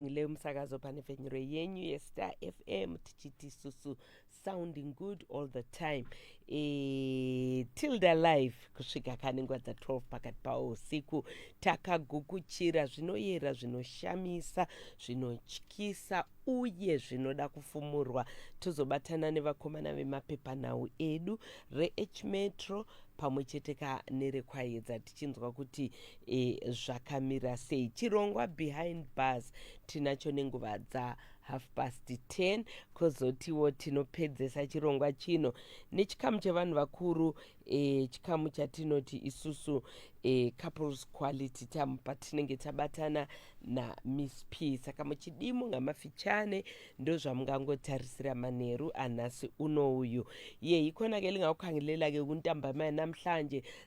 Leo Msakazo pane venhuro yenyu yeStar FM tichiti susu sounding good all the time e, tilda live kusvika kane nguva dza 12 pakati pawo usiku takagukuchira zvinoyera zvinoshamisa zvinotyisa uye zvinoda kufumurwa tozobatana nevakomana vemapepanhau edu rehmetro pamwe cheteka nerekwayedza tichinzwa kuti e, zvakamira sei chirongwa behind bars tinacho nenguva dza half past 10 kozotiwo tinopedzesa chirongwa chino nechikamu chevanhu vakuru e, chikamu chatinoti isusu e, couples quality tam patinenge tabatana namiss p saka muchidii munga mafichane ndozvamungangotarisira manheru anhasi uno uyu ye ikhona ke lingawukhangelela-ke ukuntambama yanamhlanje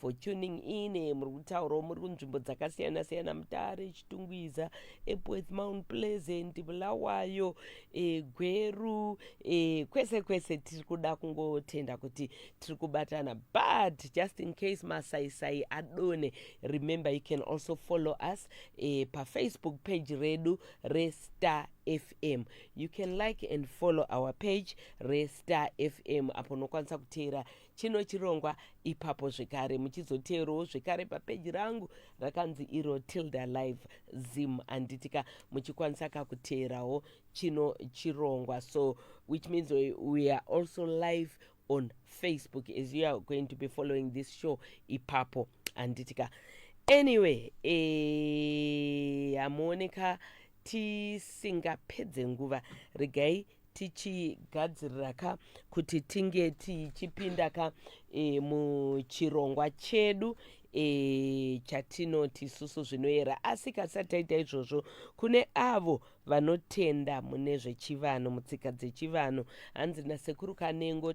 for tuning in eh, muri kutaurawo muri kunzvimbo dzakasiyana siyana mutare chitungwiza epworth mount pleasant bulawayo e, gweru e, kwese kwese tiri kuda kungotenda kuti tiri kubatana but just in case masaisai adone remember you can also follow us e, pafacebook page redu restar fm you can like and follow our page restar fm apo unokwanisa kuteera chino chirongwa ipapo zvekare muchizoteerowo zvekare papeji rangu rakanzi iro tilda live zim anditika muchikwanisa kakuteerawo chino chirongwa so which means we are also live on facebook as you are going to be following this show ipapo anditika anyway eh, hamuoneka tisingapedze nguva regai tichigadzirira ka kuti tinge tichipinda ka e, muchirongwa chedu e, chatinoti isusu zvinoyera asi kasati taita izvozvo kune avo vanotenda mune zvechivanhu mutsika dzechivanhu hanzi nasekuru kanengo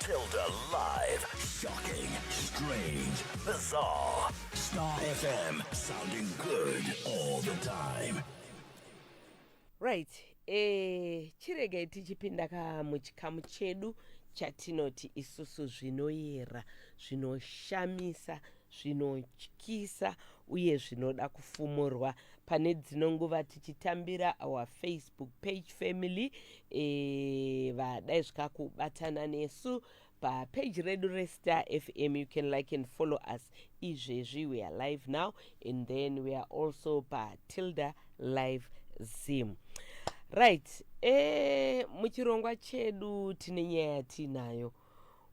Tilda live, shocking, strange, bizarre. Star FM, sounding good all the time. right eh, chiregai tichipinda ka muchikamu chedu chatinoti isusu zvinoyera zvinoshamisa zvinotyisa uye zvinoda kufumurwa pane dzino nguva tichitambira our facebook page family e, vadai zvikakubatana nesu papeji redu restar fm you can like and follow us izvezvi we are live now and then we are also patilda live zim right e, muchirongwa chedu tine nyaya yatiinayo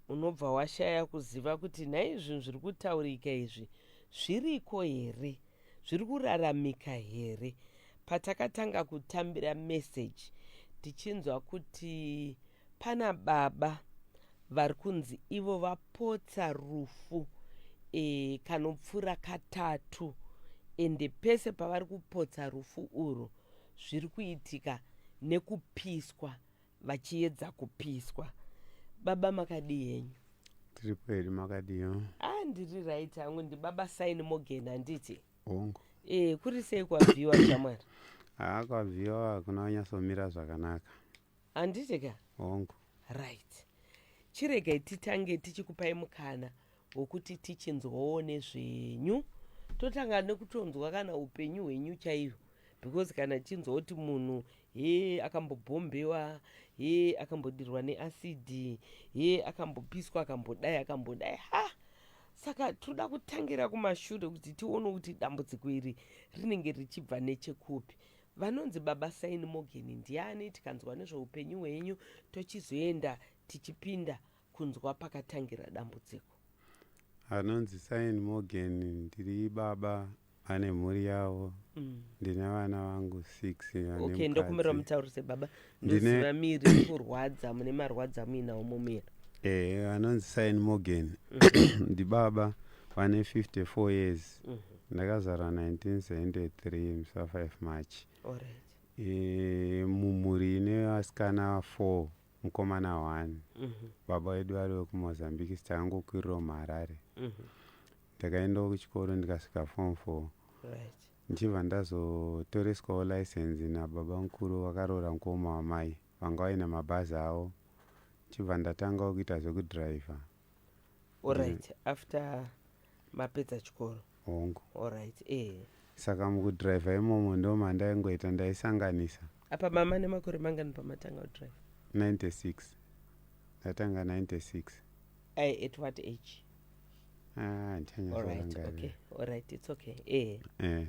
unobva washaya kuziva kuti nhai zvinhu zviri kutaurika izvi zviriko here zviri kuraramika here patakatanga kutambira meseji tichinzwa kuti pana baba vari kunzi ivo vapotsa rufu e, kanopfuura katatu ende pese pavari kupotsa rufu urwu zviri kuitika nekupiswa vachiedza kupiswa baba makadii henyu tiri kweri makadiyo ah ndiri right hangu ndibaba saini mogen handiti hongu e kuri sei kwabviwa shamwari haa kwabviwa hakuna wanyatsomira zvakanaka handiti ka hongu right chiregai titange tichikupai mukana hwokuti tichinzwawo nezvenyu totanga nekutonzwa kana upenyu hwenyu chaihwo because kana tichinzwa kuti munhu he akambobhombewa he akambodirwa neasidi he akambopiswa akambodai akambodai ha saka tinoda kutangira kumashure kuti tione kuti dambudziko iri rinenge richibva nechekupi vanonzi baba saini mogeni ndiani tikanzwa nezveupenyu hwenyu tochizoenda tichipinda kunzwa pakatangira dambudziko. Anonzi Sain Morgan ndiri baba ane mhuri yavo mm. ndine vana vangu six okay, ndokumbira mutaurise baba ndoziva miri kurwadza mune marwadza muinawo mumira eh, anonzi Sain Morgan mm. ndibaba vane 54 years mm -hmm. ndakazara 1973 musa 5 march right. e, mumhuri ine vasikana 4 mukomana one mhm. baba vedu vari vekumozambique stakangokwirirawo muharare mhm. ndakaendawo kuchikoro ndikasvika form four ndichibva ndazotoreswawo license nababa mukuru vakaroora mukoma wamai vanga vaine mabhazi avo ndichibva ndatangawo kuita zvekudriver Alright, after mapedza chikoro. hongu Alright, eh. saka mukudriver imomo ndo mandaingoita ndaisanganisa Apa mama nemakore mangani pamatanga kudrive? 96 ndatanga 96 Ai, at what age? ah, Alright, handichanyatsorangarira okay. Alright, it's okay. Eh. eh.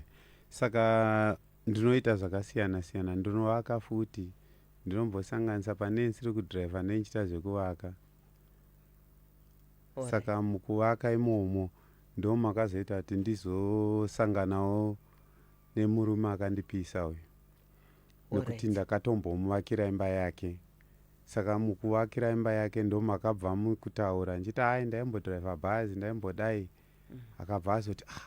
saka ndinoita zvakasiyana siyana ndinovaka futi ndinombosanganisa pane ndisiri kudriver nenichita zvekuvaka Ora. saka mukuvaka imomo ndo makazoita kuti ndizosanganawo nemurume akandipisa uyu nekuti Alright. ndakatombomuvakira imba yake saka mukuvakira imba yake ndo makabva mukutaura ndichiti ai ndaimbodriver bhazi ndaimbodai akabva azoti ah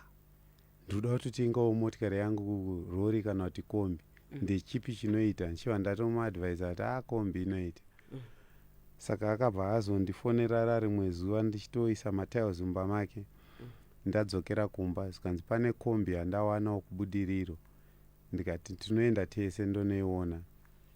ndikuda kutotengawo motikari yangu rori kana kuti kombi mm. ndechipi chinoita ndichiva ndatomuadvisa kuti a ah, kombi inoita mm. saka akabva azondifonera ra rimwe zuva ndichitoisa matiles mumba make mm. ndadzokera kumba zvikanzi pane kombi yandawanawo kubudiriro ndikati tinoenda tese ndonoiona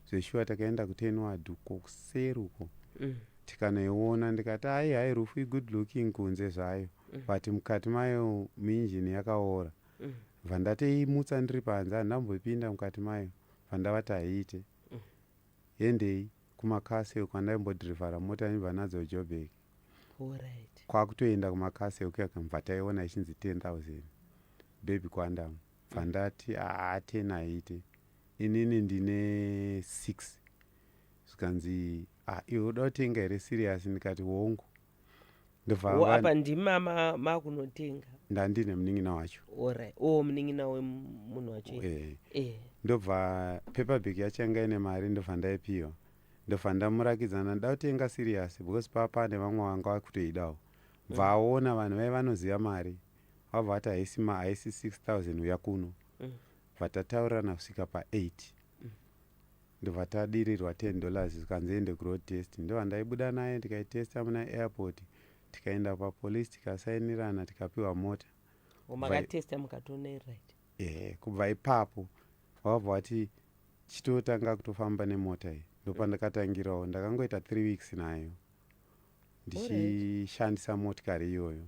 zveshuwa takaenda kutenward uko kuseri uko mm. tikanoiona ndikati hai hai rufu igood looking kunze zvayo mm. but mukati mayo muinjini yakaora mm. vandateimutsa ndiri panze handambopinda mukati mayo vandavati haiite mm. hendei kumakasel kwandaimbodrivhara mota ndibva nadzo jobek right. kwakutoenda kumakasel kuyakamva taiona ichinzi 10 000 bebi kwandamo bva ndati aa 10 haite inini ndine 6 zvikanzi ah, iwe uda kutenga here siriyasi ndikati hongu ndobvaapa ndimama makunotenga ndandine munin'ina wacho orit o munin'ina wemunhu wacho e e ndobva paperbag yacho yanga ine mari ndobva ndaipiwa ndobva ndamurakidzana nda kutenga siriyasi because papa nevamwe vanga vakutoidawo bva aona vanhu vai vanoziva mari vabva vati haisi ma haisi 6000 uya kuno mm. vatataurirana kusvika pa8 mm. ndobva tadirirwa 10 dollars zvikanzi ende kuroad test ndovandaibuda naye tikaitesta muna airport tikaenda papolice tikasainirana tikapiwa mota makatesta mukatoona right ehe kubva ipapo wabva wati chitotanga kutofamba nemota iyi ndopandakatangirawo ndakangoita three weeks nayo ndichishandisa motikari iyoyo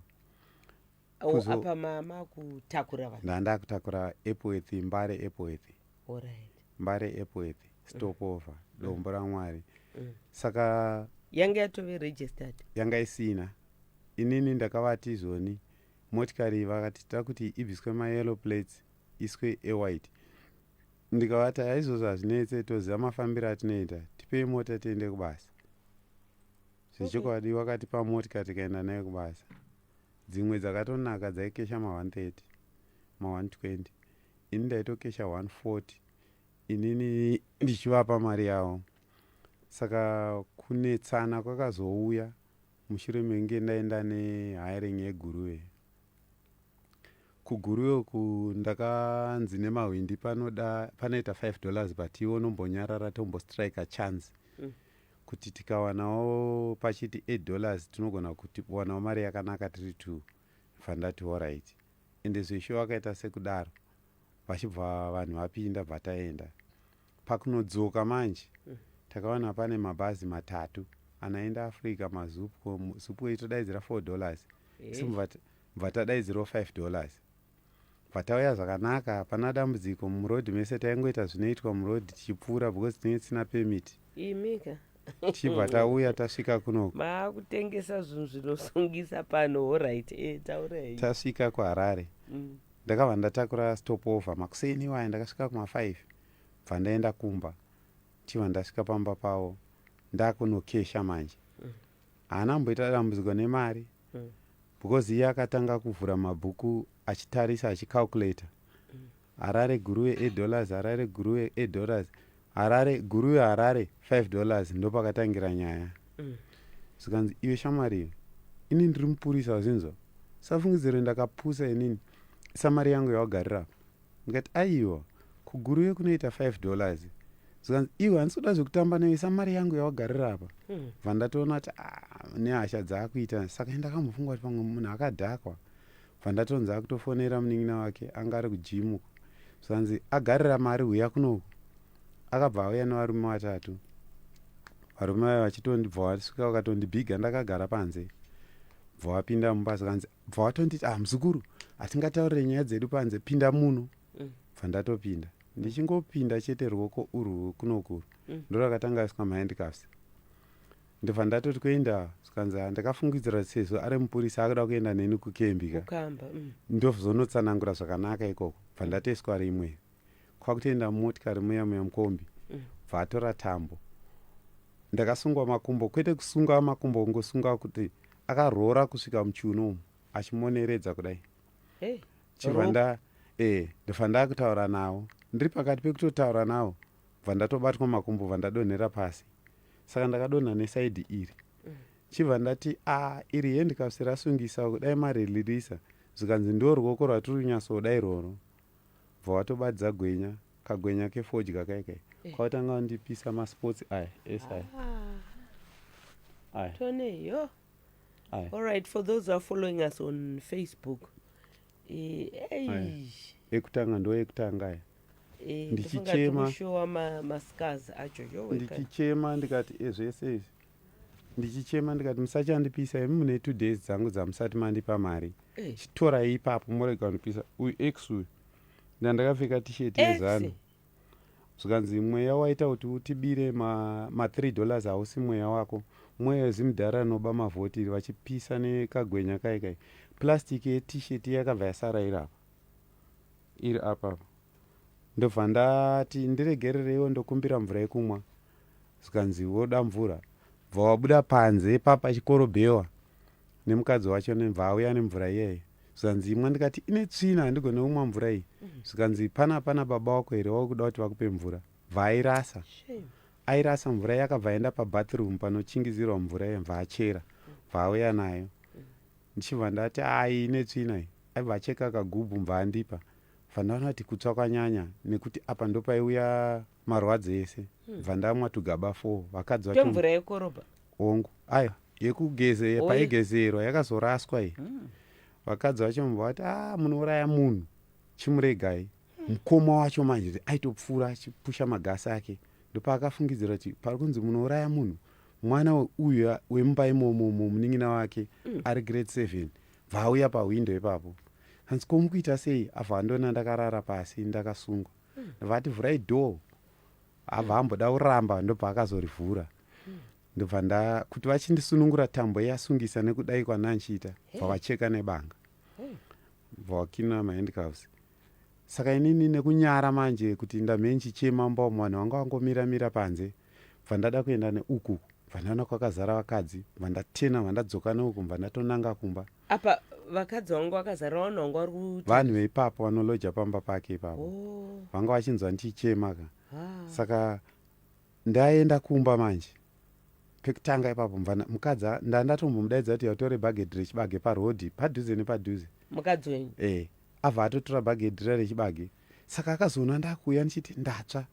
Kuzo- apa mama kutakura vanhu ndandakutakura epworth mbare epworth Alright. mbare epworth stopover dombo ramwari Mm. saka yange yatove registered yanga isina inini ndakavati izvoni motikari iyi vakati tida kuti ibviswe mayellow plates iswe ewhite ndikavati aizvozvo hazvinetse toziva mafambiro atinoita tipei mota tiende kubasa zvechokwadi okay. wakatipa motika tikaenda nayo kubasa dzimwe dzakatonaka dzaikesha ma130 ma120 ini ndaitokesha 140 inini ndichivapa mari yavo saka kunetsana kwakazouya mushure menge ndaenda nehiring yeguruve kuguruve uku ndakanzi nemahwindi panoda panoita 5 dollars but iwo nombonyarara tombostrike chance mm. kuti tikawanawo pachiti 8 dollars tinogona kutiwanawo mari yakanaka tiri two bvandati horit ende zveshuwa akaita sekudaro vachibva vanhu vapinda bvataenda pakunodzoka manje mm. takawana pane mabhazi matatu anaenda africa mazupco supco itodaidzira four dollars isu eh. bva tadaidzirawo five dollars Patauya zvakanaka hapana dambudziko muroad mese taingoita zvinoitwa muroad tichipfuura because tinenge tisina permit. Imika. Tichibva tauya tasvika kuno. Maakutengesa zvinhu zvinosungisa pano horaiti e eh, taurai. Tasvika kuHarare. Mm. Ndakabva ndatakura stop over makuseni iwaya ndakasvika kuma 5 bva ndaenda kumba tichibva ndasvika pamba pavo ndakunokesha manje. Mm. Haana mm. mboita dambudziko nemari mm. because iye akatanga kuvhura mabhuku achitarisa achicalculator mm. harare guruwe eight dollars harare guruwe eight dollars harare guruwe harare five dollars ndopakatangira nyaya mm. zvikanzi iwe shamari ini ndiri mupurisa wazinzwa safungidziro ndakapusa inini samari yangu yawagarira apa ndikati aiwa kuguruve kunoita 5 dollars zvikanzi iwe handisi kuda zvekutamba newe isa mari yangu yawagarira apa hmm. bva mm. ndatoona kuti ah, nehasha dzaakuita saka ndakamufunga kuti pamwe munhu akadhakwa bva ndatonzi akutofonera munin'ina wake anga ari kujimu zvikanzi agarira mari huya kunoku akabva auya nevarume vatatu varume vaye vachitondibva wasvika vakatondibhiga ndakagara panze bva wapinda mumba zvikanzi bva watonditi ah muzukuru hatingataurire nyaya dzedu panze pinda muno mm. bva ndatopinda ndichingopinda chete ruoko urwu kunokuru mm. ndo rakatanga asika mahandcuffs ndobva ndatoti kuenda zvikanzi ndakafungidzira sezvo ari mupurisa akuda kuenda neni kukembi ka mm. ndozonotsanangura zvakanaka ikoko bva ndatoiswa rimwe kwakutoenda mumotikari muya muya mukombi mm. bva atora tambo ndakasungwa makumbo kwete kusunga makumbo kungosunga kuti akaroora kusvika muchiuno umu achimoneredza kudai hey, chibva nda e ndofa ndakutaura nawo ndiri pakati pekutotaura nawo bva ndatobatwa makumbo bva ndadonhera pasi saka ndakadonha nesaidi iri mm. chibva ndati a ah, iri hendikasirasungisa kudai marilirisa zvikanzi ndo ruoko rwatiri kunyatsoda irworwo bva watobadza gwenya kagwenya kefodya kaye kaye eh. kwatanga wandipisa masports aya ese aya ah. aya toneyo all right for those are following us on facebook eh, ekutanga ndo ekutanga aya eh, ndichichema ndichichema ndikati ezvese izvi ndichichema ndikati musachandipisa imi mune two days dzangu dzamusati mandipa mari eh. chitorai ipapo morega kundipisa uyu x uyu ndandakapfeka tisheti yezanu zvikanzi mweya waita kuti utibire mathree ma dollars hausi mweya wako mweya wezimudhara anoba mavhotiri vachipisa nekagwenya kai kai plastic yetisheti yakabva yasara iri apa iri apapa ndobva ndati ndiregerereiwo ndokumbira mvura yekumwa zvikanzi woda mvura bva wabuda panze ipapa chikorobhewa nemukadzi wacho nemva auya nemvura iyeye zvikanzi imwa ndikati ine tsvina handigone kumwa mvura iyi mhm. zvikanzi pana pana baba wako here wakuda kuti vakupe mvura bva airasa airasa mvura yakabva aenda pabathroom panochingizirwa mvura iye bva achera bva auya nayo ndichibva ndati ai ine tsvina iyi aibva acheka kagubhu bva andipa Bvanda vanoti kutsva kwanyanya nekuti apa ndopaiuya marwadzo ese hmm. bvandamwa tugaba four vakadzi vacho mvura yekorobha hongu ayo yekugeze paigezerwa yakazoraswa iyi hmm. vakadzi vacho mva vati a ah, munouraya munhu chimuregai hmm. mukoma wacho manje aitopfuura achipusha magasi ake ndopaakafungidzira kuti pari kunzi munouraya munhu mwana uyu wemumba imomo munin'ina wake ari grade seven Bva auya pahwindo ipapo hanzi ko mukuita sei abva andona ndakarara pasi ndakasungwa ndobva ati vhurai door abva amboda kuramba ndobva akazorivhura ndobva nda kuti vachindisunungura tambo yasungisa nekudai kwananchiita bva vacheka nebanga bva wakina mahandcuffs saka inini nekunyara manje kuti ndamhenchichema mbomo vanhu vanga vangomira mira panze bva ndada kuenda neuku bva ndaona kwakazara vakadzi bva ndatena bva ndadzoka neuku bva ndatonanga kumba apa vakadzi vangu vakazara vanhu vanga vari kuti vanhu veipapo vanoloja pamba pake ipapo oh. vanga vachinzwa ndichichema ka ah. saka ndaenda kumba manje pekutanga ipapo mvana mukadzi nda ndatombomudaidza kuti yautore bhagedhi rechibage parhodhi padhuze nepadhuze mukadzi wenyu e eh, abva atotora bhagedhi ra rechibage saka akazoona ndakuuya ndichiti ndatsva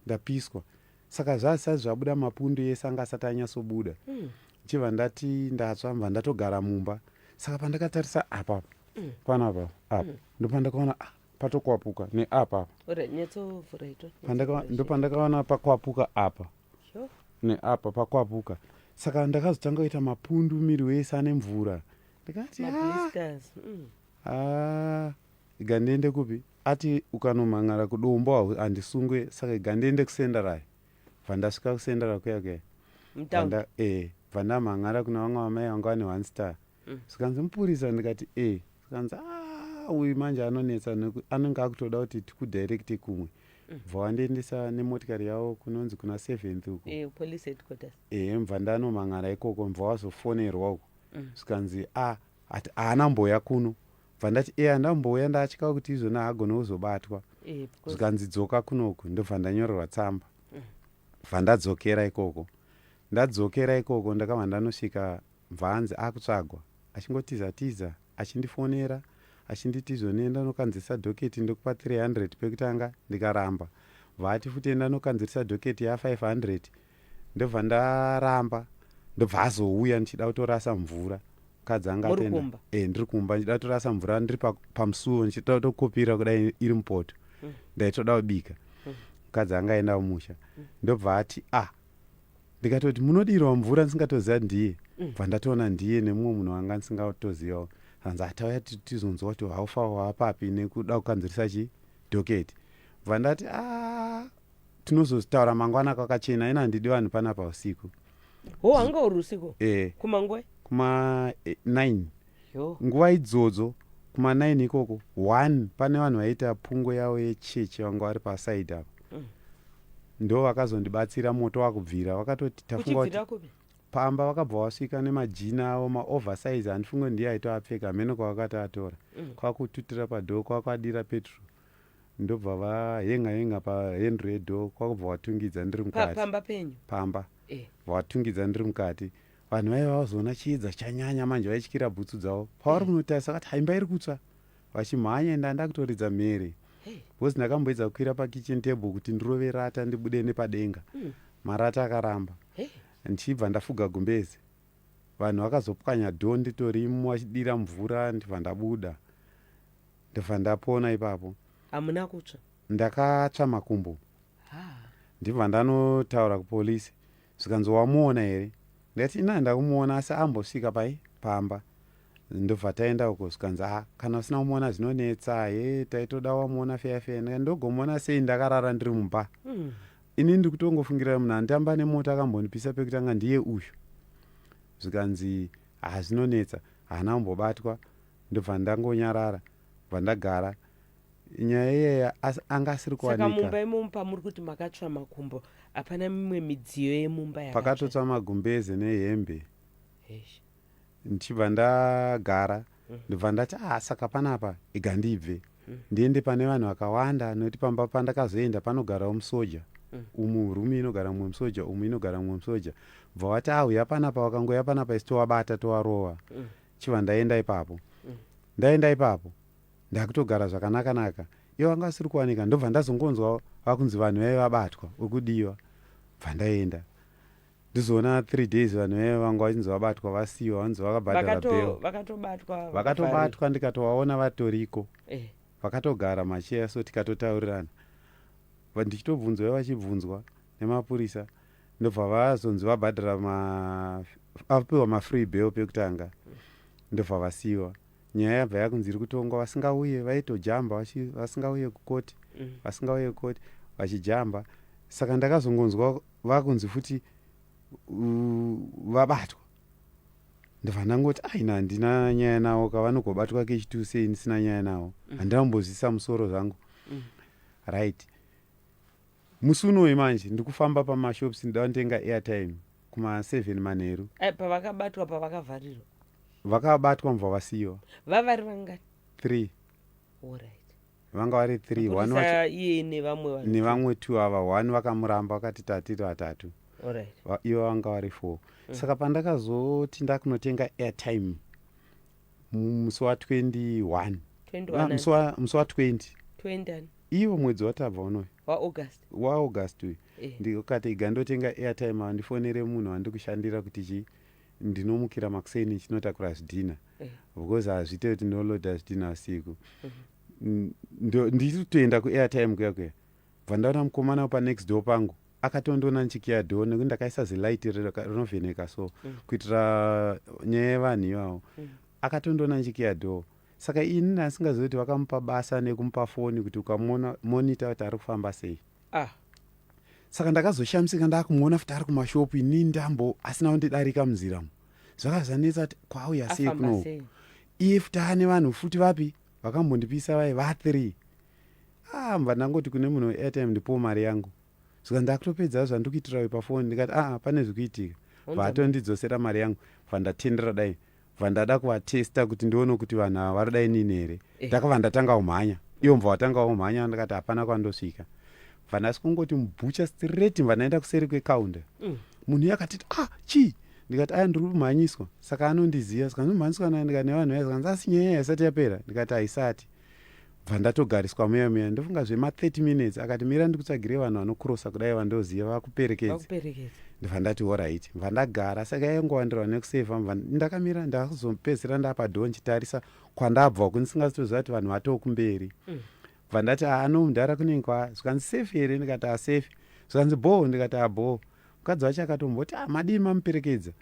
ndapiswa saka zvazisati zvabuda mapundu ese anga asati anyasobuda mm. chibva ndati ndatsva mva ndatogara mumba saka pandakatarisa apapa mm. panapa apa mm. ndopandakaona ah, patokwapuka neapa ndopandakaona pakwapuka apa neapa pakwapuka saka ndakazotanga kuita mapundu miri wese ane mvura ndikati ah. mm. ah. iga ndiende kupi ati ukanomhan'ara kudombo handisungwe saka iga ndiende kusendarayo bva ndasvika kusendara kuya kuya bva eh, ndamhan'ara kuna vamwe vamai vanga vane one star mm. zvikanzi mupurisa ndikati e eh. zvikanzi ah, uyu manje anonetsa anenge akutoda kuti tikudirecte kumwe mm. bva wandiendesa nemotikari yavo kunonzi kuna seventh uko e eh, mbva ndanomhan'ara ikoko mbva wazofonerwa uko mm. zvikanzi a ah, ati haana mboya kuno bva ndati eya ndambouya ndatya kuti izvona hagone kuzobatwa eh, zvikanzi dzoka kunoku ndobva ndanyorerwa tsamba mm. bva ndadzokera ikoko ndadzokera ikoko ndakabva ndanosvika bva anzi akutsvagwa achingotiza tiza achindifonera achinditi izvonenda unokanzirisa doketi ndokupa 300 pekutanga ndikaramba vaati futi enda nokanzirisa doketi ya 500 ndobva ndaramba ndobva azouya ndichida kutorasa mvura mukadzi anga atenda e, ndiri kumba ndichida kutorasa mvura ndiri pamusuwo pa ndichida kutokopira kudai iri mupoto mm. ndaitoda kubika mm. mukadzi anga aenda kumusha mm. ndobva ati a ah, ndikatoti munodirwa mvura ndisingatoziva ndiye mm. bva ndatoona ndiye nemumwe munhu wanga ndisingatozivawo hanzi atauya tizonzwa kuti haufa wapapi nekuda kukanzirisa chi doketi bva ndati a ah, tinozozvitaura mangwana kwakachena ina handidi vanhu panapa usiku ho hanga uri usiku eh. kumangwe kuma 9 eh, nguva idzodzo kuma 9 ikoko one pane vanhu vaiita pungo yavo yechechi vanga vari pasaidi apo mm. ndo vakazondibatsira moto wakubvira vakatoti tafunga kuti pamba vakabva vasvika nemajina avo maoversize handifunge ndiye aitoapfeka hameno kwavakati atora mm. kwakututira padhoo kwakwadira petrol ndobva vahenga henga pahendro yedo kwakubva watungidza ndiri mukati pamba penyu pamba eh. vatungidza ndiri mukati vanhu vaive vazoona chiedza chanyanya manje vaityira bhutsu dzavo pavari kunotarisa kati haimba iri kutsva vachimhanya ende anda kutoridza mhere bcause ndakamboedza kukwira pakitchen table kuti ndirove rata ndibude nepadenga hmm. marata akaramba ndichibva ndafuga gumbezi vanhu vakazopwanya do nditorimo vachidira mvura ndibva ndabuda Ndobva ndapona ipapo. Hamuna kutsva? Ndakatsva makumbo. Ha. Ndibva ndanotaura kupolice zvikanzi wamuona here? Ndikati ina ndakumuona asi ambosvika pai pamba. Ndobva taenda uko zvikanzi ah kana usina kumuona zvinonetsa he taitoda wamuona feya feya ndikati ndogomuona sei ndakarara ndiri mumba. Mm. Ini ndiri kutongofungirira munhu anditamba nemota akambondipisa pekutanga ndiye uyu. Zvikanzi ah zvinonetsa haana kumbobatwa Ndobva ndangonyarara bva ndagara nyaya iyaya asi anga asiri kuwanika saka mumba imomo pamuri kuti makatsva makumbo hapana mimwe midziyo yemumba pakatotsva magumbeze nehembe ndichibva ndagara mm. ndobva ndati ah saka panapa iga ndibve mm. ndiende pane vanhu vakawanda nokuti pamba pandakazoenda panogarawo musoja mm. umu rumu inogara mumwe musoja umu inogara mumwe musoja bva wati auya ah, panapa wakangouya panapa isi towabata towarova chiva ndaenda ipapo ndaenda ipapo ndakutogara zvakanaka naka ivo vanga vasiri kuwanika ndobva ndazongonzwa vakunzi vanhu vaive vabatwa wekudiwa bva ndaenda ndizoona three days vanhu vaive vanga vachinzi vabatwa vasiwa vanzi vakabhadhara bel vakatobatwa ndikatovaona vatoriko eh. vakatogara macheya so tikatotaurirana ndichitobvunzwa vachibvunzwa nemapurisa ndobva vazonzi vabhadhara apiwa mafree bail pekutanga ndobva vasiyiwa nyaya yabva yakunzi iri kutongwa vasingauye vaitojamba vasingauye kukoti mm. vasingauye kukoti vachijamba saka ndakazongonzwa vakunzi futi vabatwa ndobva ndangoti aina handina nyaya nawo kavanogobatwa kechitu sei ndisina nyaya nawo mm. handina kumbozvisa musoro zvangu mm. right Musi unoyi manje ndikufamba pamashops ndandenga airtime kuma 7 manheru. Eh, pavakabatwa pavakavharirwa. Vakabatwa mva vasiwa. Vavari vangani? 3. Alright. Vanga vari 3. One wacho iye nevamwe vanhu. Nevamwe 2 ava one vakamuramba vakati tatiri vatatu. Alright. Ivo vanga vari 4. Mm. Saka pandakazoti ndakunotenga airtime. musi wa 21 21 musi wa- musi wa 20 20 ani iwo mwedzi watabva unoyu waaugust waaugust uyu Eh. ndikati iga ndotenga airtime awa ndifonere munhu wandikushandira kuti chi ndinomukira makuseni chinotakura zvidhina Eh. because hazviite kuti ndoloda zvidhina usiku N- ndo- ndiri kutoenda kuairtime kuya kuya Ndakabva ndaona mukomana wepa next door pangu akatondiona ndichikiya door nekuti ndakaisa zilight rinovheneka so mm. kuitira nyaya yevanhu ivawo mm. akatondiona ndichikiya door saka ini ndasingazivi kuti vakamupa basa nekumupa foni kuti ukamona monita kuti ari kufamba sei ah. saka ndakazoshamisika ndakumuona futi ari kumashopu ini ndambo asina kundidarika munzira mu zvakazanetsa kuti kwauya sei kuno iye futi ane vanhu futi vapi vakambondipisa vai vathre ah mva ndangoti kune munhu weairtime ndipowo mari yangu zvika ndakutopedza zvandikuitirawe pafoni ndikati aa ah, pane zvikuitika vatondidzosera mari yangu vandatendera dai vandada kuvatesta kuti ndione kuti vanhu ava vari dai nini here eh. ndakava ndatanga umhanya iyo mva watanga umhanya ndakati hapana kwandosvika vandasi kungoti mubhucha straight vandaenda kuseri kwekaunda mm. munhu iye akatiti ah chii ndikati aya ndiri kumhanyiswa saka anondiziva saka ndimhanyiswa naye ndikati nevanhu vaye saka ndasi nyaya yaisati yapera ndikati haisati bva ndatogariswa muya muya ndofunga zvema 30 minutes akati mira ndikutsvagire vanhu vanokurosa kudai vandoziva vakuperekedze ndibva ndati orit bva ndagara saka yaingowandirwa nekuseva bva ndakamira ndakuzopedzisira ndapadoo ndichitarisa kwandabva kuni singazitoziva kuti vanhu vatoo kumberi mm. bva ndati ano mudhara kunenge kwa zvikanzi safe here ndikati asafe zvikanzi bhoo ndikati abhoo mukadzi wacho akatomboti amadii ah, mamuperekedza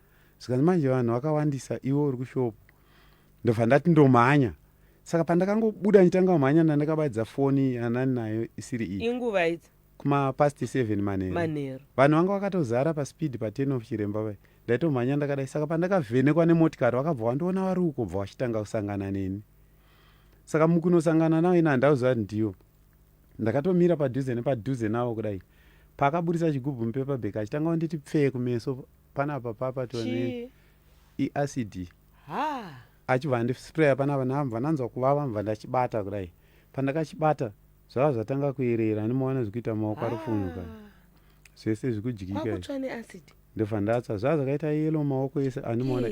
zvikanzi manje vanhu vakawandisa iwe uri kushopo ndobva ndati ndomhanya saka pandakangobuda ndichitanga kumhanya ndandakabaidza foni yanani nayo isiri iyi inguva idzi kumapast 7 manheru manheru vanhu vanga vakatozara paspeed paten of chiremba vai ndaitomhanya ndakadai saka pandakavhenekwa nemotikari vakabva vandiona vari uko bva vachitanga kusangana neni saka mukunosangana navo ini handauziva kuti ndivo ndakatomira padhuze nepadhuze navo kudai paakaburitsa chigubhu mupepabek achitanga kunditi pfee kumeso panapa papa tone iacd e achibva andisprayer panapa ndakabva ndanzwa kuvava ndibva ndachibata kudai pandakachibata zvava zvatanga kuyerera ndimoona zvikuita maoko ari kufunuka zvese zvikudyika ndobva ndatsva zvava zvakaita yelo maoko ese andimoona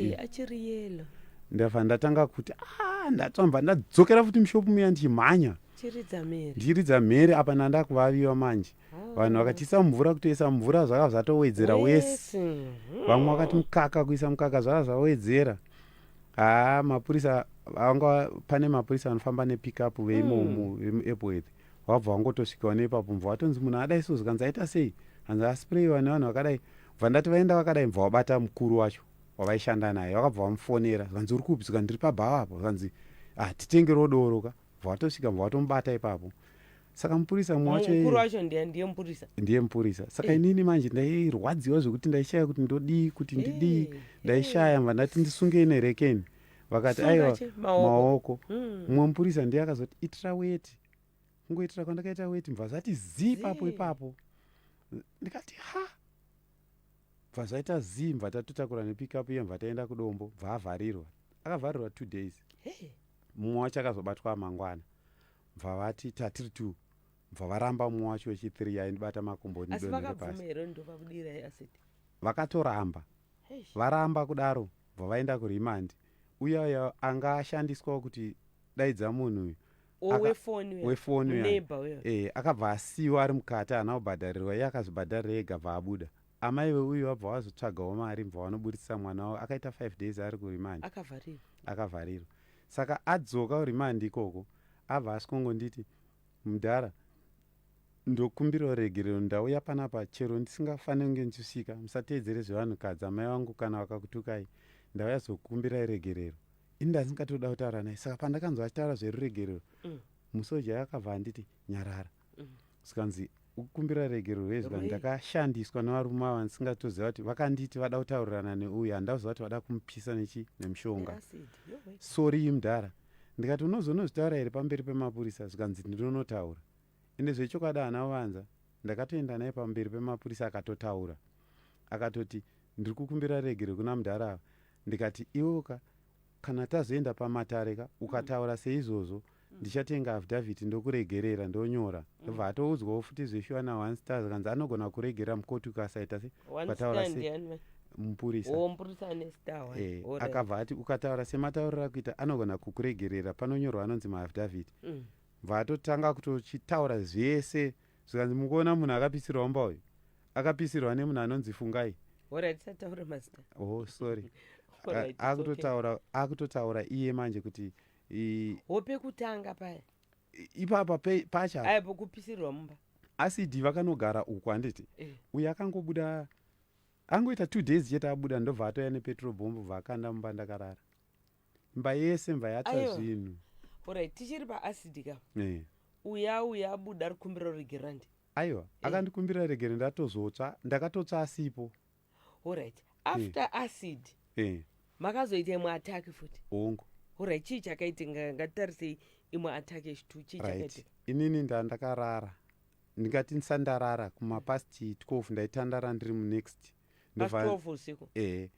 ndabva ndatanga kuti ah, ndatsva ndibva ndadzokera futi mushopu muya ndichimhanya ndichiridza mhere apa ndandakuvaviwa manje vanhu vakachiisa mumvura kutoisa mumvura zvaka zvatowedzera wese mhm. vamwe vakati mukaka kuisa mukaka zvaka zvawedzera haa mapurisa vanga pane mapurisa vanofamba nepickup veimomo hmm. vemuepworth wabva wangotosvikawo nepapo mva watonzi munhu adai so zvikanzi aita sei hanzi asprayiwa nevanhu vakadai bva ndati vaenda vakadai mva wabata mukuru wacho wavaishanda naye vakabva vamufonera zvikanzi uri kupi zvikanzi ndiri pabhawa apo zvikanzi ah titengerewo doro ka bva watosvika bva watomubata ipapo saka mupurisa mumwe wacho mukuru wacho ndiye ndiye mupurisa ndiye mupurisa saka inini manje ndairwadziwa zvekuti ndaishaya kuti ndodii kuti ndidii ndaishaya mva ndati ndisungei nerekeni vakati aiwa maoko hmm. mumwe mupurisa ndiye akazoti itira weti kungoitira kwandakaita weti mva zvati zii papo ipapo ndikati ha bva zvaita zii mva tatotakura nepickup iye mva taenda kudombo bva avharirwa akavharirwa two days mumwe wacho akazobatwa amangwana bva vati tatiri two bva varamba umwe wacho wechithree aindibata makumbo vakatoramba varamba kudaro bva vaenda kuremand uya uya anga ashandiswawo kuti daidza munhu uyu wefoni uya eh, akabva asiwa ari mukati haana kubhadharirwa iye akazvibhadharira ega bva abuda Amai veuyu vabva vazotsvagawo mari mva vanoburitsisa mwana wavo akaita five days ari kurimandi akavharirwa akavharirwa saka adzoka kurimandi ikoko abva asvongonditi mudhara ndokumbirawo regerero ndauya panapa chero ndisingafaniri kunge ndichisvika musateedzere zvevanhukadzi amai vangu kana vakakutukai ndauya zokukumbirai regerero ini ndandingatoda kutaura naye saka pandakanzwa achitaura zveruregerero mm. musoja akabva anditi nyarara zvikanzi ukumbira regero hwei zvikanzi ndakashandiswa nevarume ava ndisingatoziva kuti vakanditi vada kutaurirana neuyu handauziva kuti vada kumupisa nechi nemushonga soriyi mudhara ndikati unozonozvitaura here pamberi pemapurisa zvikanzi ndinonotaura ende zvechokwadi haana uvanza ndakatoenda naye pamberi pemapurisa akatotaura akatoti ndiri kukumbira regero kuna mudhara ava ndikati iwoka Kana tazoenda pamatare ka ukataura seizvozvo ndichatenga affidavit ndokuregerera ndonyora ndobva atoudzwawo futi zveshuwa naonce ta zvikanzi anogona kuregerera mukoti ukasaita se One ukataura stand se yani manje. mupurisa Oh, mupurisa ane star one. Eh, Alright. akabva ati ukataura sematauriro akuita anogona kukuregerera panonyorwa anonzi maaffidavit Mm. bva atotanga kutochitaura zvese zvikanzi mukuona munhu akapisirwa mumba uyu akapisirwa nemunhu anonzi fungai oh sorry akutotaura akutotaura iye manje kuti hope kutanga paya ipapa pacha aipo kupisirwa mumba acid vakanogara uku handiti eh. uye akangobuda angoita two days chete abuda ndobva atoya nepetrol bomb bva akanda mumba ndakarara mba yese mba yatsva Aiwa. zvinhu orit tichiri paacid ka Eh. uya uya abuda ari kumbiro regerandi aiwa akandikumbira regere ndatozotsva ndakatotsva asipo orit after acid Eh, makazoita imwe attack futi hongu orit chii chakaitika ngatitarisei imwe attack yechitwu chii right chakaitika inini nda ndakarara ndingati ndisandarara kumapast 12 ndaitandara ndiri munext Pa 12 usiku ehe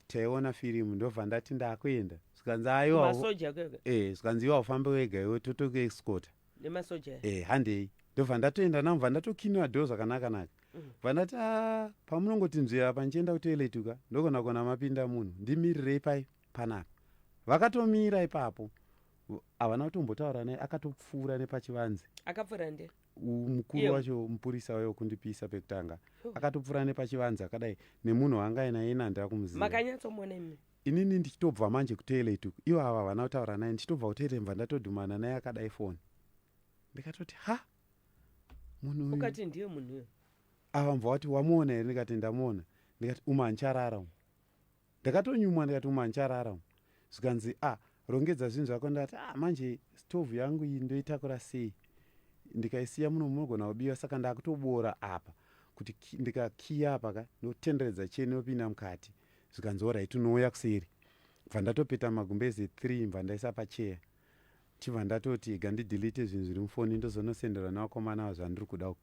taiona firimu ndobva ndati ndakuenda zvikanzi aiwamasoja kega e zvikanzi iwa ufambe wega iwe totokuexcota nemasoja e handei ndobva ndatoenda navo bva ndatokiniwa do zvakanaka naka mm. bva ndati a pamunongoti nzvera pandichienda kutoiletuka ndogona kona mapinda munhu ndimirirei pai panapa vakatomira ipapo havana kutombotaura naye akatopfuura nepachivanze akapfuura nde mukuru wacho mupurisa wayo kundipisa pekutanga akatopfura nepachivanzi akadai nemunhu waanga ainaye nandira kumuziva makanyatsomuona imi inini ndichitobva manje kutoilet uku ivo ava havana kutaura naye ndichitobva kutoilet mva ndatodhumana naye akadai foni ndikatoti ha munhu ukati ndiye munhu uyo ava mva wati wamuona here ndikati ndamuona ndikati uma ancharara umu ndakatonyumwa ndikati uma ncharara umu zvikanzi a ah, rongedza zvinhu zvako ndati a ah, manje stovhu yangu iyi ndoitakura sei ndikaisiya muno munogona kubiwa saka ndakutoboora apa kuti ndikakiya apa ka ndotenderedza cheni yopinda mukati zvikanzi orit unouya kuseri bva ndatopeta magumbezi three mva ndaisa pacheya chibva ndatoti ga ndidelete zvinhu zviri mufoni ndozonosenderwa nevakomana vazvandiri kuda uku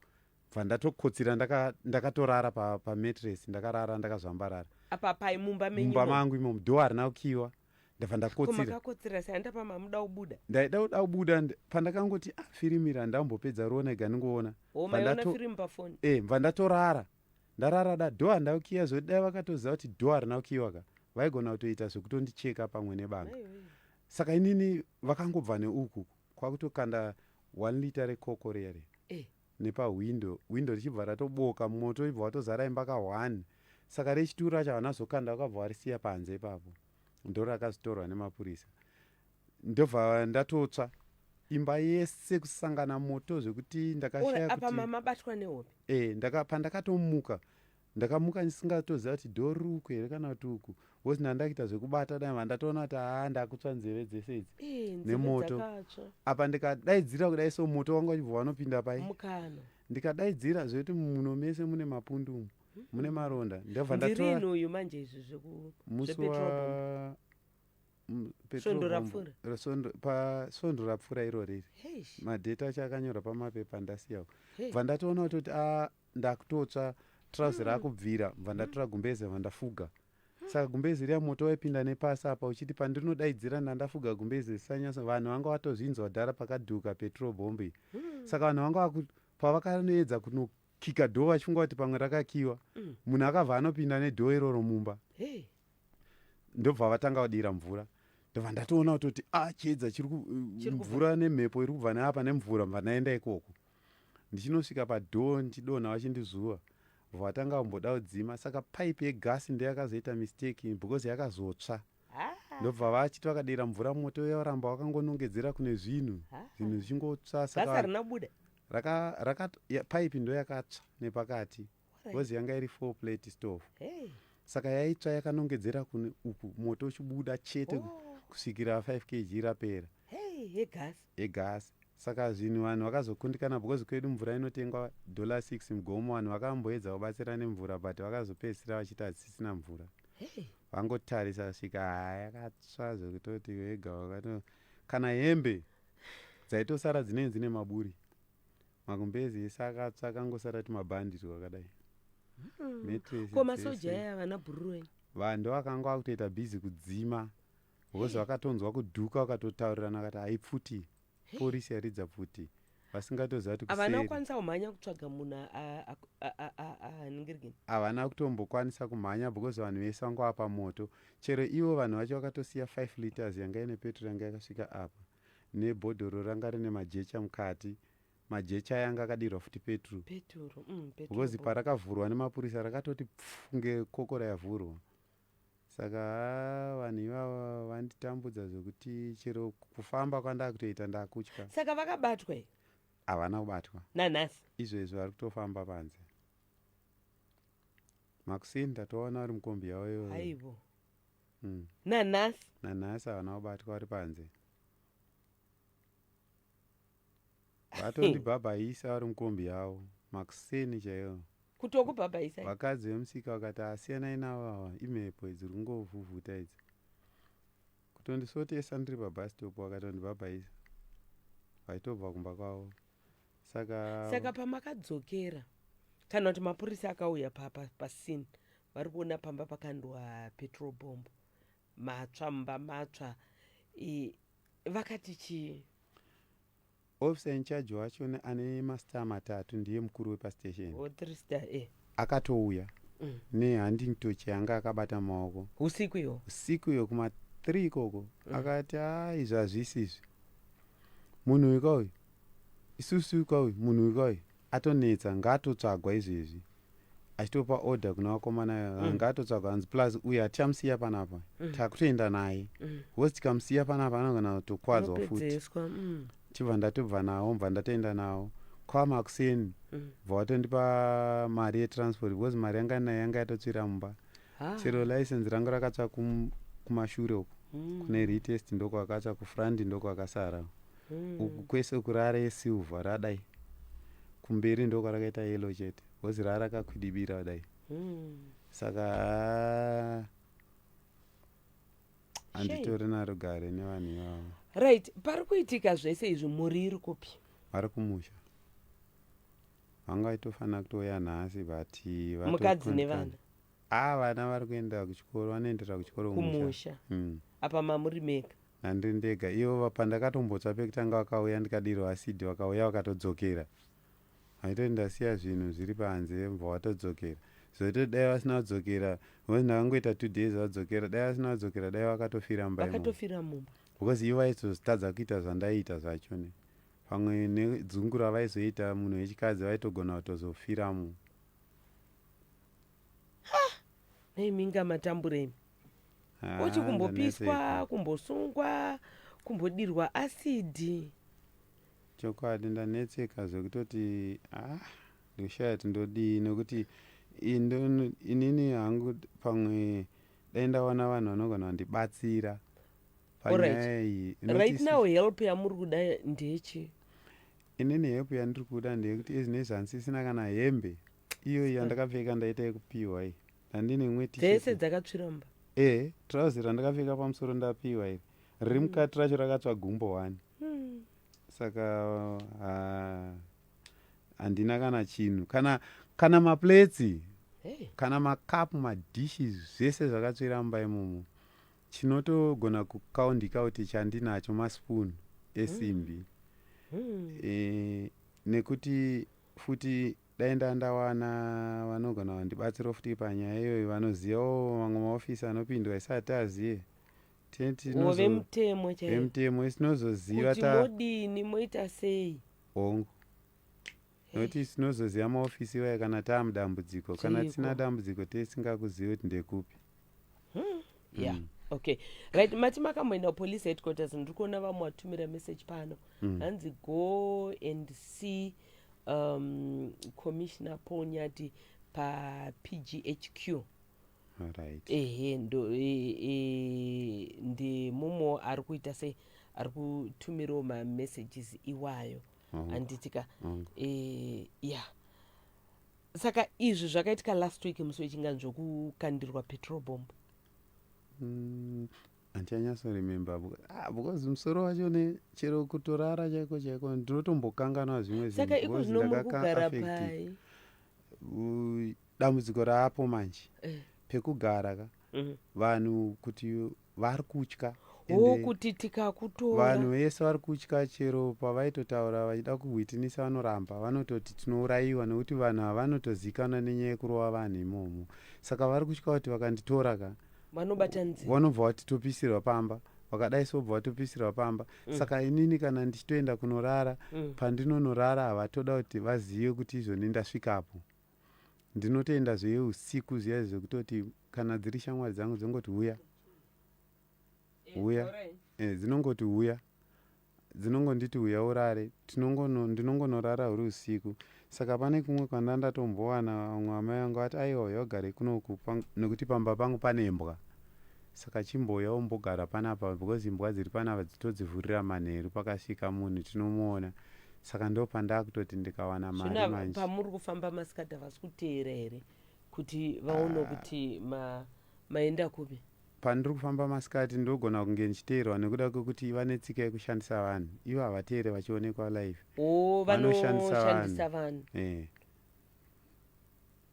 bva ndatokotsira ndakatorara ndaka pamatres pa ndakarara ndakazvambarara apa pai mumba mumba mangu imomu do harina kukiwa ndabva ndakotsirakotsira sei andapa mamuda kubuda ndaida kuda kubuda pandakangoti ah, firimu iri handambopedza rona ega ndingoona e mva ndatorara ndarara da do handina kukiwa zvoti dai vakatoziva kuti do harina kukiwa ka vaigona kutoita zvekutondicheka pamwe nebanga saka inini vakangobva neuku kwakutokanda one liter rekoko riya riya eh. nepahwindo hwindo richibva ratoboka moto ibva watozara imba ka one saka rechitu racho havana zokanda vakabva varisiya panze ipapo ndoro rakazotorwa nemapurisa ndobva ndatotsva imba yese kusangana moto zvekuti ndakashaya kuti mama batwa nehope eh ndaka pandakatomuka ndakamuka ndisingatoziva kuti doruku here kana kuti uku bcause ndandakuita zvekubata dai vandatoona kuti haa ndakutsva nzeve dzese idzi eh, nemoto apa ndikadaidzira kudai so moto wanga uchibva wanopinda pai ndikadaidzira zvekuti muno mese mune mapundu umu hmm. mune maronda ndabva ndatoauyu manje izvi zvekumusvondo rapfuura iro riri madheta acho akanyorwa pamapepa ndasiyawo bva ndatoona kutoti a ah, ndakutotsva trousi hmm. rakubvira mva hmm. ndatora gumbeze mva ndafuga hmm. saka gumbeze riya moto waipinda nepasi apa uchiti pandirinodaidzira ndandafuga gumbeze risanyasa vanhu vanga vatozvinzwa dhara pakadhuka petrol bombi saka vanhu vanga vaku pavakanoedza kunokika dhoo vachifunga kuti pamwe rakakiwa munhu akabva anopinda nedhoo iroro mumba ndobva vatanga vadira mvura ndobva ndatoona kutoti a ah, chiedza chiri mvura nemhepo iri kubva neapa nemvura mva ndaenda ikoko ndichinosvika padoor ndichidonha vachindizuva vatanga vamboda kudzima saka pipe yegasi ndiyo yakazoita mistake because yakazotsva ah. ndobva vachiti vakadira mvura moto uya varamba wakangonongedzera kune zvinhu ah. zvinhu zvichingotsva saka rakabuda raka, raka, ya, pipe ndo yakatsva nepakati bcause yanga iri four plate stove hey. saka yaitsva yakanongedzera kune uku moto uchibuda chete oh. kusvikira 5 kg rapera yegasi hey, yegasi saka zvinhu vanhu vakazokundikana because kwedu mvura inotengwa dollar 6 mugomo vanhu vakamboedza kubatsira nemvura but vakazopedzisira vachiti hadzisisina mvura hey. vangotarisa kusvika haya yakatsva zvekutoti wega wakato kana hembe dzaitosara dzinei dzine maburi magumbezi ese akatsva akangosara timabhanditi kwakadai hmm. ko masoja aya vana bhururuwe vando vakanga vakutoita bhizi kudzima hozi eh. vakatonzwa kuduka vakatotaurirana kati haipfuti eh. porisi yaridza pfuti vasingatoziva kuti havana kukwanisa kumhanya kutsvaga munhu aningirigini havana kutombokwanisa kumhanya because vanhu vese vanga vapa moto chero ivo vanhu vacho vakatosiya 5 liters yanga ine petro yanga yakasvika apa nebhodhoro ranga rine majecha mukati majecha aya anga akadirwa futi peturu peturu mm, peturu because parakavhurwa nemapurisa rakatoti pfu ngekokora yavhurwa saka haa vanhu ivava vanditambudza zvekuti chero kufamba kwandaa kutoita ndakutya saka vakabatwa here havana kubatwa nanhasi izvezvi vari kutofamba panze makusini tatoona vari mukombi yavo iyoyo aivo mm. nanhasi nanhasi havana kubatwa vari panze vatondibhabhaisa vari mukombi yavo makuseni chaiwo kutokubhabhaisa vakadzi vemusika vakati asiyanai navo ava imhepo idzi ri kungovhuvhuta idzi kutondisotesa ndiri pabhastop vakatondibhabhaisa vaitobva kumba kwavo saka saka pamakadzokera kana kuti mapurisa akauya pasin pa, pa vari kuona pamba pakandwa petrol bomb matsva mumba matswa vakati chii officer in charge wacho ane mastar matatu ndiye mukuru wepastation oh, eh. akatouya mm. nehunding toch yanga akabata maoko usiku iyo usiku iyo kuma3 ikoko mm. akati a izvi hazvisi izvi munhu weka uyu Isusu ka uyu munhu uyu ka uyu atonetsa ngaatotsvagwa izvezvi achitopa order kuna vakomana mm. Ah, ngaatotsvagwa hanzi plus uyu hatichamusiya panapa mm. takutoenda naye mm. hosi tikamusiya panapa anogona kutokwadzwa futi mm. chibva ndatobva nawo mbva ndatoenda nawo kwama kuseni mm. bva watondipa mari yetransport because mari yanga nayo yanga yatotsvira mumba ah. chero license rangu rakatsva kumashure uko mm. kune retest ndokwakatsva kufront ndokwakasara mm. uku kwese kurara yesilver radai kumberi ndo kwarakaita yelo chete bhozi raa rakakwidibira kudai mm. saka ah, handitori naro gare nevanhu ivavo right pari kuitika zvese izvi mhuri iri kupi vari kumusha vanga vaitofanira kutouya nhasi but mukadzi nevana Haa vana vari kuenda kuchikoro vanoendera kuchikoro kumusha mm. apa mamuri mega nandiri ndega ivo pandakatombotsva pekutanga vakauya ndikadirwa asidi vakauya vakatodzokera vaitoti ndasiya zvinhu zviri panze mva vatodzokera zvoitoti dai vasina kudzokera because ndakangoita two days vadzokera dai vasina kudzokera dai vakatofira mba vakatofira mumba because ivo vaizotadza kuita zvandaiita zvacho ne pamwe nedzungu ravaizoita munhu wechikadzi vaitogona kutozofiramo imi inga matambura imi Ah, uchi kumbopiswa ndanetseka. kumbosungwa kumbodirwa asidi chokwadi ndanetseka zvekutoti ah ndoshaya kuti ndodii nokuti i- ndo- inini hangu d- pamwe dai ndawana vanhu vanogona vandibatsira Alright. panyaya iyi Not right isi- now help yamuri kuda ndechi inini help yandiri kuda ndeyekuti ezvinezvi handisisina kana hembe iyoyi yandakapfeka ndaita yekupiwa iyi handine imwe dzese dzakatsviromba e eh, trousi randakapfeka pamusoro ndapiwa iri riri hmm. mukati racho rakatsva gumbo wani hmm. saka handina kana chinhu kana kana maplatsi kana makapu madishes zvese zvakatsvira mumba imomo chinotogona kukaundika kuti chandinacho maspoon esimbi hmm. e, nekuti futi Dai ndanga ndawana vanogona vandibatsirawo futi panyaya iyoyo vanozivawo mamwe maofisi anopindwa isi hatiazive vemutemo chaivo vemutemo isi tinozoziva kuti modini moita sei hongu nokuti tinozoziva maofisi iwayo kana taamudambudziko kana tisina dambudziko tesingakuzivi kuti ndekupi hmm. yeah mm. okay right mati makamboenda kupolice headquarters ndiri kuona vamwe watumira message pano mm. hanzi mm. go and see um, commissioner paul nyati papghq right. ehe ndo e, e, ndi mumo ari kuita sei ari kutumirawo mamessages iwayo handitika mm. e, ya saka izvi zvakaitika last week musi wechinganzi zvekukandirwa petrol bomb mm, handichanyasoremember ah, because musoro wacho ne chero kutorara chaiko chaiko ndinotombokanganwa zvimwe saka iko zvino muri kugara pai dambudziko raapo manje eh. pekugara ka mm. vanhu kuti vari kutya oh, kuti tikakutora vanhu vese vari kutya chero pavaitotaura vachida kuhwitinisa vanoramba vanototi tinourayiwa nekuti vanhu havanotozikanwa nenyaya yekurova vanhu imomo saka vari kutya kuti vakanditora ka vanobata nzi vanobva vatitopisirwa pamba vakadai so bva vatopisirwa pamba mm. saka inini kana ndichitoenda kunorara mm. pandinonorara havatoda kuti vazive kuti izvoni ndasvikapo ndinotenda zveye usiku zviya zvekutoti kana dziri shamwari dzangu dzongoti huya huya eh, dzinongoti huya dzinongonditi huya urare ndinongonorara huri usiku saka pane kumwe kwanda ndatombowana vamwe amai vangu vati aiwa huya ugare kunoku nekuti pamba pangu pane mbwa Saka chimbouya umbogara panapa because imbwa dziri panapa dzitodzivhurira manheru pakasvika munhu tinomuona saka ndopandakutoti ndikawana mari manje. Pamuri kufamba masikati havasi kuteera here kuti vaone ah. kuti ma, maenda kupi? Pandiri kufamba masikati ndogona kunge ndichiteerwa nekuda kwekuti vane tsika yekushandisa vanhu ivo havateere vachionekwa live oh, vanoshandisa vanhu eh.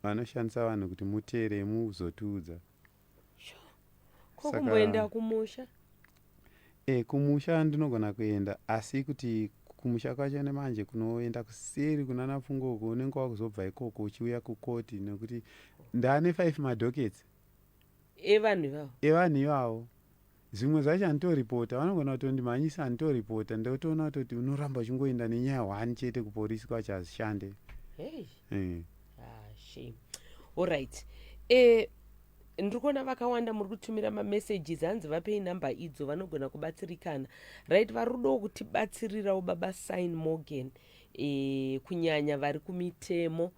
vanoshandisa vanhu kuti muteere muzotiudza kokumboenda kumusha e, kumusha ndinogona kuenda asi kuti kumusha kwacho nemanje kunoenda kuseri kunana pfungo uko unenge wakuzobva ikoko uchiuya kukoti nekuti ndaane five madockets evanhu ivavo evanhu ivavo Zvimwe zvacho handitoripota vanogona kutondimhanyisa handitoripota ndotoona kutoti unoramba uchingoenda nenyaya one chete kupolisi kwacho hazvishande hey. mm. ah, shame allright eh, ndiri kuona vakawanda muri kutumira mamessages hanzi vapei number idzo vanogona kubatsirikana right vari kudawo kutibatsirirawo baba sign morgan eh, kunyanya vari kumitemo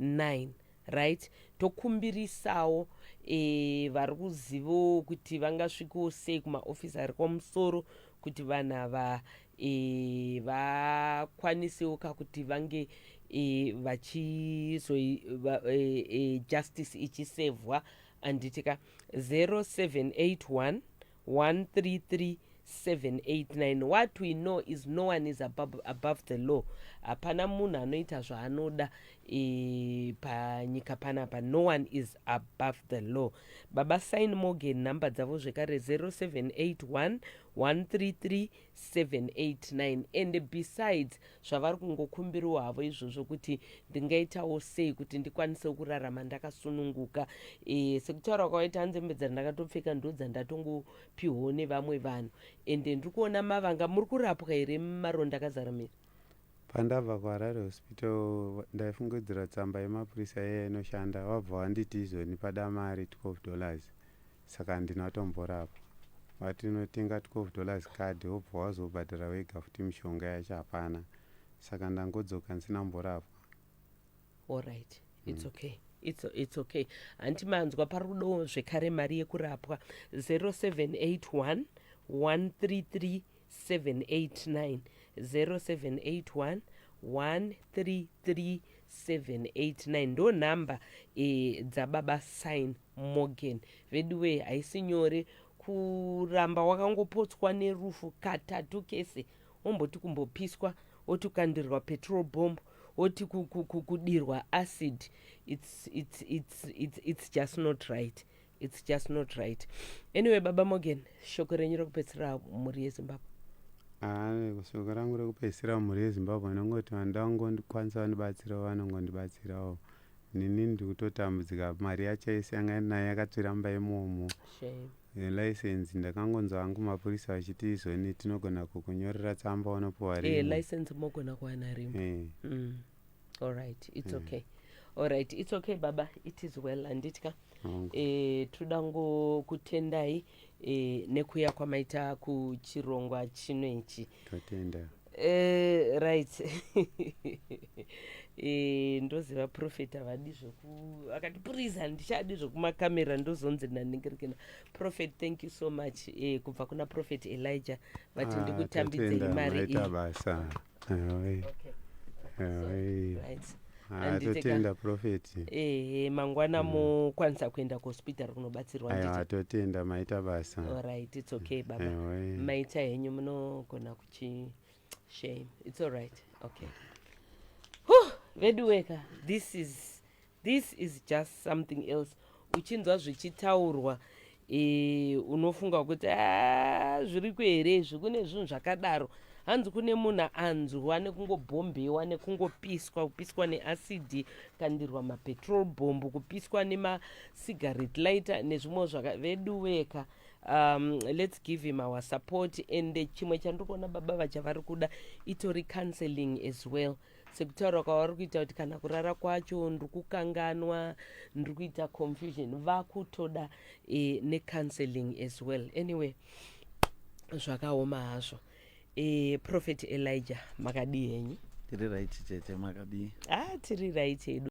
9 right tokumbirisawo e, vari kuzivawo kuti vangasvikewo sei kumaofisi ari kwamusoro kuti vanhu ava e, vakwanisewo ka kuti vange e, vachizo e, e, justice ichisevhwa anditi ka 0781 13378 what we know is no one is above, above the law hapana munhu anoita zvaanoda e, panyika panapa no one is above the law baba sign morgan nhamba dzavo zvekare 0781 133 789 and besides zvavari kungokumbirawo havo izvozvo kuti ndingaitawo sei kuti ndikwanisewo kurarama ndakasununguka e, sekutaura kwakaita nzembe dzandakatopfeka ndo dzandatongopiwawo nevamwe vanhu ende ndiri kuona mavanga muri kurapwa here maronda akazara miri pandabva kuharare hospital ndaifungidzira tsamba yemapurisa yeye inoshanda wabva wanditi izvoni pada mari 12 dollars saka handina kutomborapa vati unotenga 12 dollars card wobva wazobhadhara wega futi mishonga yacho hapana saka ndangodzoka ndisina kumborapwa allright its mm. okay it's, it's okay hanti manzwa pari kudowo zvekare mari yekurapwa 0781 133 789 0781 133789 ndo nhamba e, eh, dzababa sign morgan veduwee haisi nyore kuramba wakangopotswa nerufu katatu kese womboti kumbopiswa woti kukandirwa petrol bomb woti kudirwa acid it's, it's, it's, it's, it's just not right its just not right anyway baba morgan shoko renyu rekupedzisira mhuri yezimbabwe ah, shoko rangu rekupedzisira mhuri yezimbabwe anongoti vanhu ndavangondikwanisa vandibatsirawo vanongondibatsirawo nini ndikutotambudzika mari yacho yese yanga ndinayo yakatsviramba imomo license ndakangonzwa hangu mapurisa vachiti izoni tinogona kukunyorera tsamba unopuwa rimwe eh, license mogona kuwana rimwe eh. mm. alright its mm. okay alright its okay baba it is well handiti ka mm. e, eh, tinoda ngokutendai e, eh, nekuya kwamaita kuchirongwa chino ichi tatenda e, right e, ndoziva profet havadi zvoku akati purizi handichadi zvokumakamera ndozonzi ndandingerikena profet thank you so much e, kubva kuna profet elijah vati ah, ndikutambidzei mari iyi atotenda ah, profeti ehe mangwana mm. mokwanisa kuenda kuhospital kunobatsirwa aiwa atotenda maita basa alright its okay baba maita henyu munogona kuchi shame its alright okay veduweka this is This is just something else uchinzwa zvichitaurwa e, unofunga kuti ah, zviriko here izvi kune zvinhu zvakadaro hanzi kune munhu anzwa nekungobhombewa nekungopiswa kupiswa neacidi kandirwa mapetrol bomb kupiswa nemasigarete lighter nezvimwe zvaka veduweka um, let's give him our support and chimwe chandiri kuona baba vacha vari kuda itori counseling as well sekutaura kwavari kuita kuti kana kurara kwacho ndiri kukanganwa ndiri kuita confusion vakutoda e, necounseling as well anyway zvakaoma hazvo e, prophet elijah makadii henyu tiri right chete makadii ah tiri right hedu